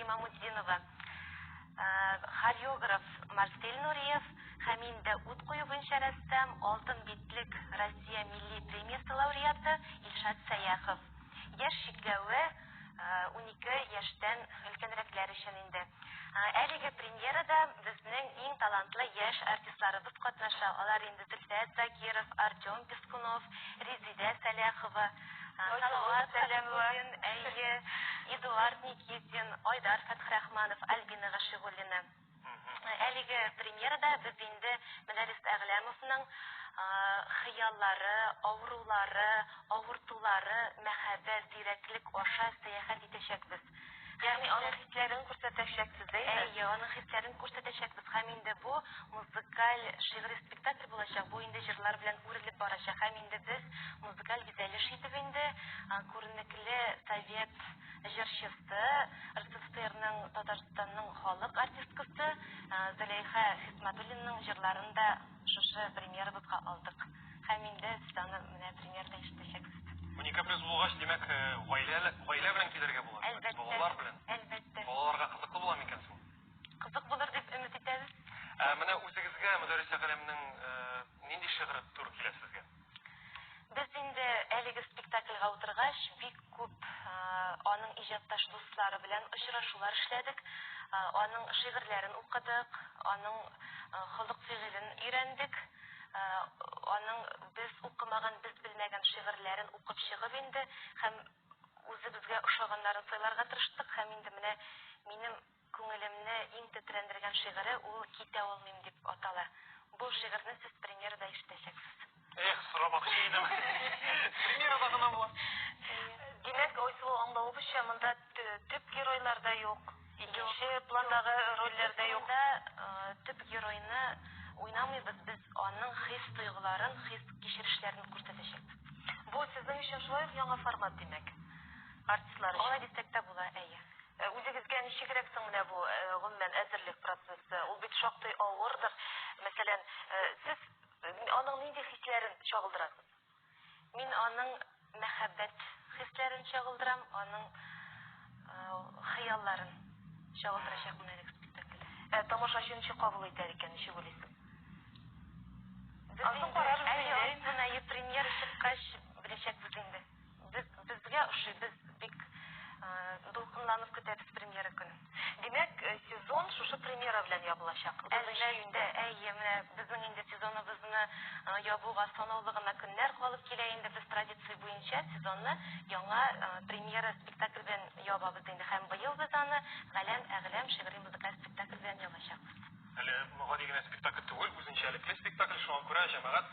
Имамутдинова, хореограф Марсель Нуриев һәм инде ут кую буенча рәссам, Алтын битлек Россия милли премиясе лауреаты Илшат Сәяхов. Яшь чикләве унике яшьтән өлкәнрәкләр өчен инде. Әлеге премьерада безнең иң талантлы яшь артистларыбыз катнаша. Алар инде Зөлфәт Закиров, Артем Пескунов, Резидә Сәләхова, Салават, Сәләмуллин, әйе, Эдуард Никитин, Айдар Фәтхрахманов, Альбина Гашигуллина. Әлеге премьерада без инде Мәдәрис Әгъләмовның хыяллары, авырулары, авыртулары, мәхәббәт, зирәклек аша сәяхәт итәчәкбез. Ягъни аның хисләрен күрсәтәчәкбез, әйе? Әйе, аның хисләрен күрсәтәчәкбез һәм инде бу музыкаль шигъри спектакль булачак. Бу инде җырлар белән үрелеп барачак һәм инде без музыкаль бизәлеш итеп инде күренекле совет җырчысы, РСФСРның Татарстанның халык артисткасы Зөләйха Хисматуллинның җырларын да Шушы премьерабызга алдык. Һәм инде сез аны менә премьерда ишетәчәксез. Уникаприз булгач, димәк, гаилә, гаилә белән килергә була. Әлбәттә. Балалар белән. Әлбәттә. Балаларга кызыклы була микән соң? Кызык булыр дип өмет итәбез. Ә менә үзегезгә Мөдәррисә Галәмнең нинди шигыре туры килә сезгә? Без инде әлеге спектакльгә утыргач, бик күп аның иҗатташ дуслары белән очрашулар эшләдек, аның шигырьләрен укыдык, аның холык-фигылен өйрәндек. Аның без укымаган, без белмәгән шигырьләрен укып чыгып инде һәм үзебезгә ошаганнарын сайларга тырыштык һәм инде менә минем Күңелемне иң тетрәндергән шигыре ул Китә алмыйм дип атала. Бу шигырьне сез премьерада ишетәчәксез. Эх, сорамакчы идем. Премьерада гына була. Димәк, Айсылу, аңлавыбызча, монда төп геройлар да юк, икенче пландагы рольләр дә юк. Юк, монда төп геройны уйнамыйбыз, без аның хис-тойгыларын, хис-кичерешләрен күрсәтәчәкбез. Бу сезнең өчен шулай ук яңа формат, димәк? Артистлар өчен. Алай дисәк тә була, әйе. Э, үзегезгә ничегрәк соң менә бу э, гомумән әзерлек процессы? Ул бит шактый авырдыр. Мәсәлән, э, сез аның нинди хисләрен чагылдырасыз? Мин аның мәхәббәт хисләрен чагылдырам, аның хыялларын чагылдырачакмын әлеге спектакльдә. Ә тамашачы ничек кабул итәр икән, ничек уйлыйсыз? Ансыз карар, әйе, премьера чыккач, беләчәкбез инде. Без, безгә ошый, без бик э, дулкынланып көтәбез премьера көнен. Димәк, э, сезон шушы премьера белән ябылачак. Әлбәттә, әйе, менә безнең инде сезоныбызны э, ябуга санаулы гына көннәр калып килә инде. Без традиция буенча сезонны яңа э, премьера спектакль белән ябабыз инде. Һәм быел без аны Галәм әгъләм шигъри музыкаль спектакль белән ябачакбыз. Әле гади генә спектакль түгел, үзенчәлекле спектакль, шуңа күрә җәмәгать